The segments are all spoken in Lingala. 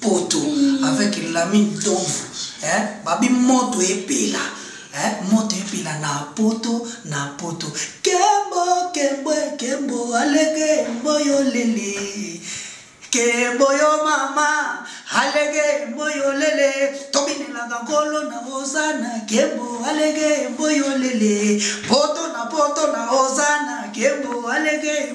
poto avec lami ndomvu eh, babi moto epela eh, moto epela na poto na poto kembo kembo kembo alege mboyo lele kembo yo mama alege mboyo lele tobinelaka nkolo na ozana kembo alege mboyo lele poto na poto na ozana kembo alege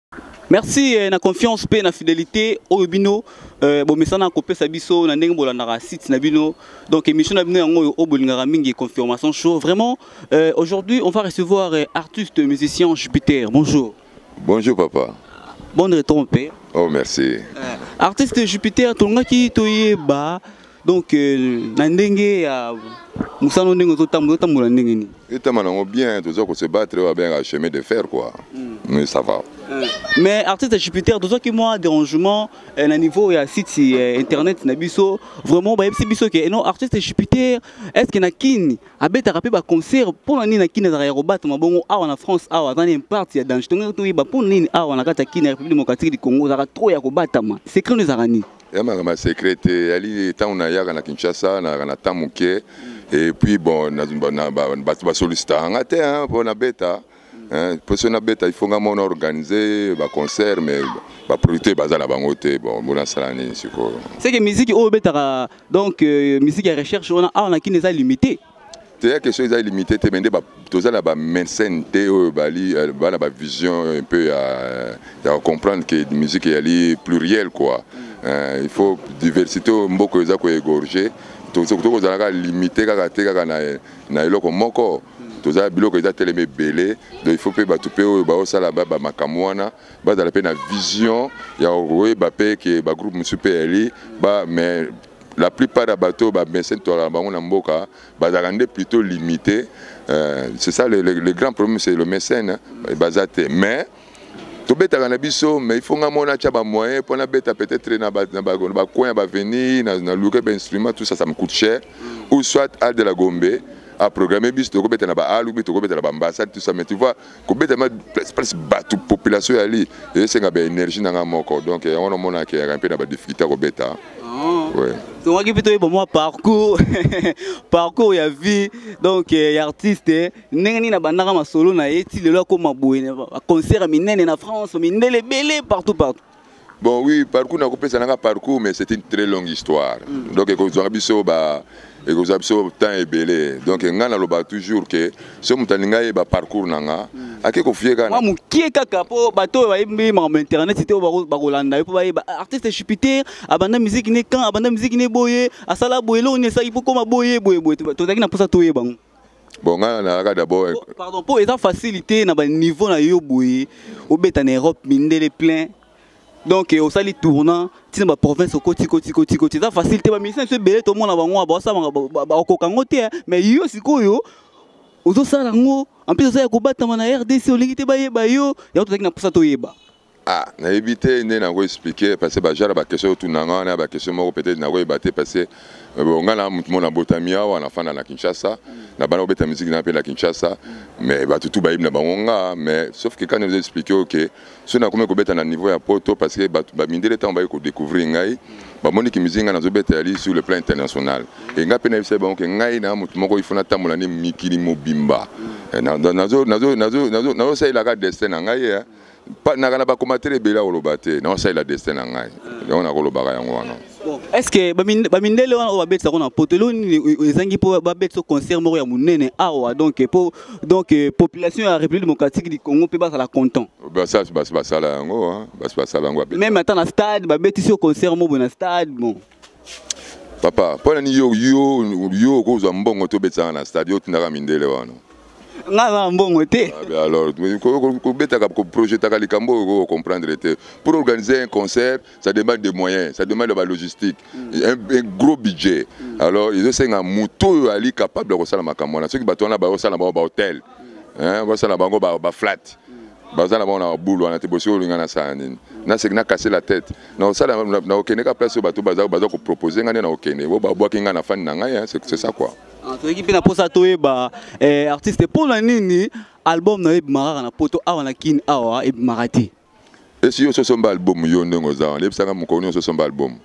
Merci eh, na confiance pe na fidélité oyo bino eh, bomesana kopesa biso na ndenge bolandaka site na bino donc émission na bino yango oyo oyo bolingaka mingi confirmation show vraiment eh, aujourd'hui on va recevoir eh, artiste musicien Jupiter bonjour Bonjour papa. bon retour mpe Oh merci. eh, artiste Jupiter tolongaki toyeba donc euh, na ndenge ya mosala ndenge ozotambola otambola ndenge nini etama nango bien toza kose battre oyo abengaka chemin de fer quoi hmm. mais ça va hmm. mais artiste jupiter tozwaki mwa dérangement euh, na niveau ya site euh, internet na biso vraiment bayebisi biso ke non artiste jupiter est ce que na kini abetaka mpe baconcert mpo na nini na kini azalaka ya kobatama bongo awa na france awa aza na imparte ya danger tongai toyeba mpo na nini awa na kati ya kini ya république démocratique du congo ozalaka trop ya kobatama secret no ezalaka nini ya makambo ya secret te yali ntango nayaka na kinshasa nayaka na temps moke et puis bon bato basolicitaka nga te mpo nabeta mpo soki nabeta il faut nga mona organise baconcert mais baproducteur baza na bango te bon bonasala nini sikoyo seke miziki oyo obetaka donc euh, miziki ya recherche wana awa na kini eza limité teya question eza limité te mais nde toza na bamescene te oyo bali euh, bana bavision un peu ya, ya comprendre ke musique eyali pluriel quoi euh, il faut diversité oyo mboka eza koegorge tokozala kaka limité kaka te kaka na, na eloko moko toza biloko eza telema ebele donc il faut mpe bato mpe oyo baosala bamakambo wana bazala mpe na vision ya koyeba mpe ke bagroupe mosusu mpe yali ba mais la plupart ya bato oyo bamese ntwala na bango na mboka bazalaka nde plutôt limité euh, c'est ça le, le, le grand problème c'est le mécène baza te mais tobetaka na biso mais il faut nga mona atya bamoyen mpo nabeta peut-être na bacoin ya baveni na luke bainstrument tout ça ça me coûte cher ou soit al de la gombe aprogramme biso tokobeta na baal ou bi tokobeta na baambassade tout ça mais tu vois kobeta ma place place bato population yali esenga ba énergie na nga moko donc yango namona ke yaka mpe na ba difficulté ya kobeta oh. ouais. tongaki mpe toyeba mwa parcours parcours ya vie donc eh, ya artiste ndenge nini abandaka masolo na ye ti lelo akoma boye concert ya minene na france mindele ebele partout partout Bon oui, parcours nakopesa nanga parcours mais c'est une très longue histoire. Mm. Donc ekozwaka biso ba ekozwa biso temps ebele. Donc nga naloba toujours que so moto alingi ayeba parcours nanga mm. ake kofie kaka mwa mokie kaka mpo bato oyo bayebi mama ma internet te oyo bakolanda ye mpo bayeba ah, artiste jupiter abanda miziki ne kan abanda miziki ne boye asala boye eloko nini esalaki mpo koma boye boye boye tozalaki na mposa toyeba yango bon ngai nalaka d'abord oh, pardon mpo eza facile te na baniveau na yo boye obeta na europe mindele plein donc eh, osali tournant ntina baprovince okotikotikotikoti eza facile te baministre biso ebele tomona bango baosalanga bakoka yango te eh. mais yo sikoyo ozosala yango en plus oza ya kobatama na rdc olingi te bayeba yo yango tozalaki na mposa toyeba Ah, nayebi te nde nako expliquer parce que bajara bakestion otunanga wana ya bakestion moko peut-être nakoyeba te parce que euh, nga na motu mona botami awa nafanda na kinshasa na bana kobeta miziki na mpe na kinshasa mais bato tu bayebi na bango nga mais sauf que kani ozo expliquer oke soki nakomi kobeta na niveau ya poto parce que bato bamindele ntango baye kodécouvrir ngai bamoni ki miziki ngai nazobeta yali sur le plan international e ngai mpe nayebisaki bango ke ngai na motu moko ifo natambola nde mikili mobimba eh, nazosalelaka destin na ngai eh. naka na bakomatele ebele akoloba te naosalela destin na ngai yango nakolobaka yango wana est ce que bamindele wana oyo babetisa yango na poto elo nini ezangi mpo babetisa concert moko ya monene awa donc po donc euh, population ya république démocratique du congo mpe bazala content basi basala yango basi basala yango meme ata na stade babetisi yo concert moko na stade bon papa mpo nani yo yo yo okozwa mbongo te obetaka na stade yo otindaka mindele wana nga aza na mbongo te ah, alors kobetaka koprojetaka likambo oyo kocomprendre te pour organiser un concert ça demande des moyens ça demande ba logistique mm. un, un gros budget mm. alors ezosenga moto oyo ali capable ya kosala makambo wana soki bato wana baosala bango bahotel mm. basala bango baflate baza na bango na babulu wana te bosi olinga nasala nini naseki nakase la tete na osala na okende ka place bato baza baza ko proposer nga na okende bo babwaki nga na fan na ngai hein, c'est ça quoi ah, toyeki mpe na mposa toyeba eh, artiste mpo na nini album na yo ebimakaka na poto awa na kin awa ebimaka te esi yo sosomba album yo ndenge oza wana yebisaka mokolo nyonso osomba album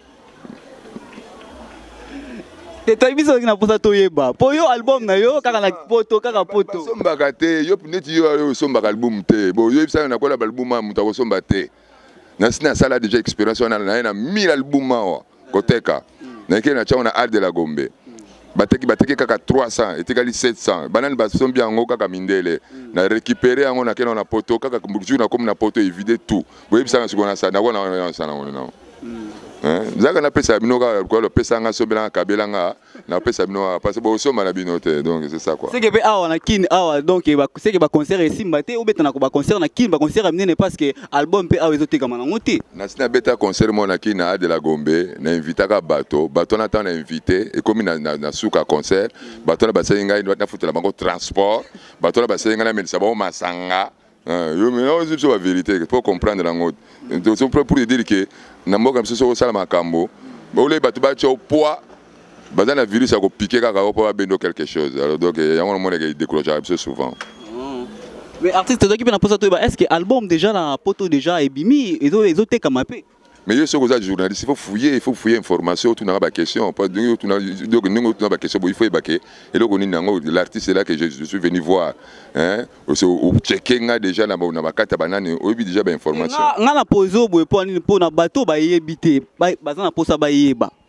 te toyebi soki na mposa toyeba mpo yo album na yo kaka na poto kaka poto osombaka te yo neti yo osombaka album te bo yo yebisaka nakola baalbum ya moto akosomba te nasi nasala deja expérience wana naye na 1000 album awa koteka nayekeli na tiango na art de la gombe bateki bateki kaka 300 etikali 700 banani basombi yango kaka mindele na récupéré yango nakenda na poto kaka jour nakomi na poto evide tout boyebisanga sikoyo nasandakonasanangonao zaka napesa bino kaka lokolo pesanga sombelanga kabelanga na pesa bino awa parce que bosomba na bino te donc c'est ça quoi seke mpe awa na kin awa donc seke baconcert esimba te obeta na baconcert na kin baconcert ya minene parce que album mpe awa ezotekama nango te nasi nabeta concert moko na kin na a de la gombe na invitaka bato bato wana ntango na invité ekomi na, na, na suka concert bato wana basali ngai nafutela bango transport bato wana basali ngai namelisa bango masanga Euh, yo maintenant ozo biso ba vérité pour comprendre nango tozo pour pour dire que na mboka biso soko sala makambo ole bato batya poids baza na virus ya kopike kaka yo mpo babendo quelque chose alors donc eh, yango namoneke décourageaka biso souvent mm. mais artiste tozalaki mpe na mposa toyeba est ce que album déjà na poto déjà ebimi ezotekama mpe mais yo soki oza journaliste il faut fouiller il faut fouiller information otunaka baquestion donc ndenge otuna baquestion bo il faut yeba ke eloko nini yango l'artiste là que je suis venu voir ocheke nga déjà na bakati ya banani oyebi déjà bainformation nga na pozo boye mpo nini mpo na bato bayebi te baza na mposa bayeba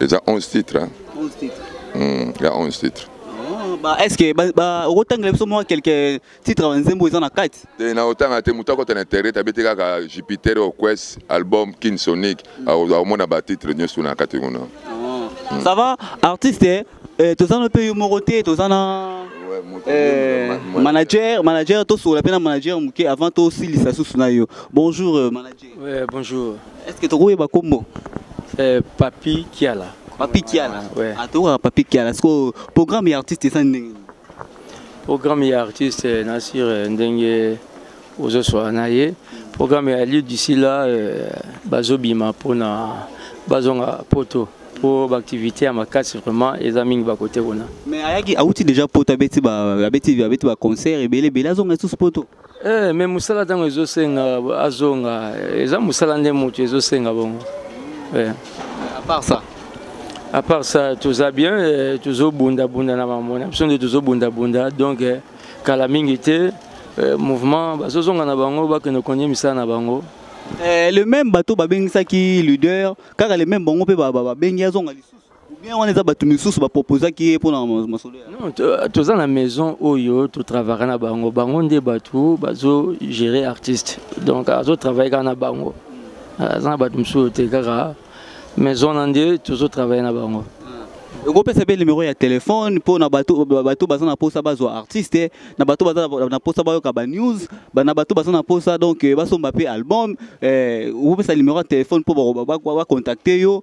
eza 11 titre hein? 11 titre mm, ya 11 titre oh, ba est ce que ba, ba okotangela biso mwa quelques titres ba nzembo eza na kati te na otanga te moto akota na internet abeti kaka jupiter oquest album kin sonic mm. akomona ba titre nyonso na kati kuna oh. mm. ça va artiste eh, eh toza na mpe yo moko te toza na eh, manager manager tosolola mpe na manager moke avant tosilisa susu na yo bonjour euh, manager Ouais, bonjour. Est-ce que tu ba kombo? Euh, Papi Kiala. Papi Kiala. Ouais. Ah, tu Papi Kiala. Est-ce que programme et artiste ça ndenge? Programme et artiste euh, na sur euh, ndenge ozo soa na ye. Programme ya lieu d'ici là euh, bazobima pona bazonga poto. mpo baaktivité ya makasi vraiment eza mingi bakote kuna mais ayaki awuti déjà poto abeti baconcert ebele ebele azonga lisusu poto Eh, mais musala ntango ezosenga azonga eza musala nde moto ezosenga bongo eh. à part ça à part ça toza bien eh, tozobundabunda na mambo na biso nde tozobundabunda donc eh, kala mingi te eh, mouvement bazozonga na bango bakende konie misala na bango eh, le même bato babengisaki leader kaka le même bango mpe babengi azonga lisusu bien wana eza bato misusu bapropozaki ye mpona masolo non toza na maison oyo totravaka na bango bango nde bato bazogere artiste donc azotravaille kaka na bango aza na bato mosusu te kaka maison na nde tozotravaille na bango okopesa mpe numero ya telefone mpo na bato baza na mposa bazwa artiste na bato baza na mposa bayoka banews na bato baza na mposa donc basomba mpe album okopesa numero ya telefone mpo bakontakte yo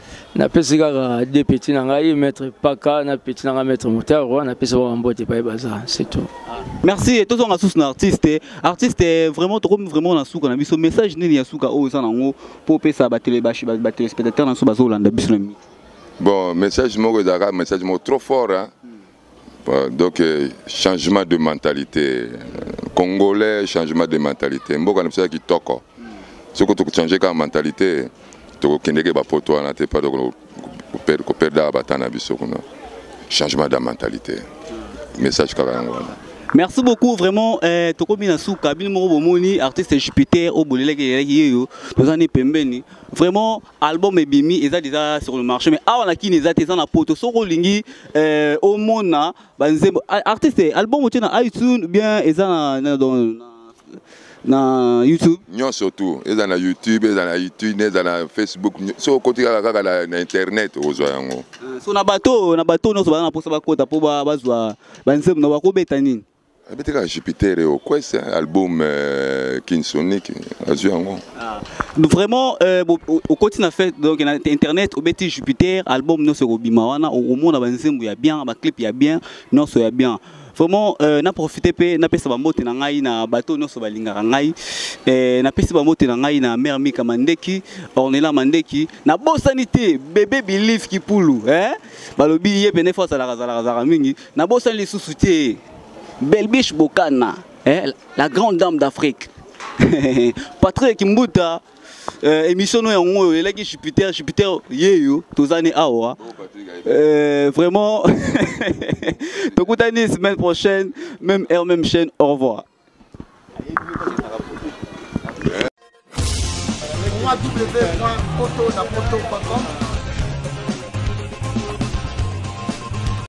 Na pesi kaka deux petits na ngai maître Paka na petit na ngai maître Motaro na pesi ba mbote pa baza c'est tout. Merci et tozonga sous na artiste artiste vraiment tokomi vraiment na suka na biso message nini ya suka oyo eza nango po pesa ba télé ba ba téléspectateurs na so bazo landa biso na mi. Bon message moko ezaka message moko trop fort hein. Euh, donc euh, changement de mentalité congolais changement de mentalité mboka na biso ya kitoko soki tokochange kaka mentalité tokokendeke bapoto wana te pa koperdaka bata na biso kuna changement de mentalité message kaka yango wana merci beaucoup vraiment eh, tokomi na suka bino moko bomoni artiste jupiter oyo bolelaki elelaki yeyo toza nde pembeni vraiment album ebimi eza deja sur le marché mais awa na kini eza te eza na poto soki olingi euh, omona banzembo artiste album otie na itunes bien eza na, na, na na youtube nyonso tu eza na youtube eza na youtube eza na facebook soki okoti kaka kaka na, na internet okozwa yango ah, so na bato na bato nyonso baza na mposa bakota mpo bazwa banzembo na bakobeta nini abeti kaka jupiter oyo eh, quest eh, album euh, kinsonic azwi yango ah. vraiment euh, okoti na fete donc na internet obeti jupiter album nyonso ekobima wana okomona banzembo ya bien baclip ya bien nyonso ya bien vraiment euh, na profite mpe napesa bambote na ngai na bato nyonso balingaka ngai euh, napesi bambote na ngai na mare mika mandeki ornela mandeki nabosani te bebe bilive kipulu eh? balobi ye pene fo azalaka azalaka azalaka mingi nabosani lisusu te belbiche bokana eh, la grande dame d'afrique patrick mbuta euh, émission no yango oyo elaki jupiter jupiter yeyo tozani awa euh, vraiment tokutani semaine prochaine même heure même chaîne au revoir www.autonapoto.com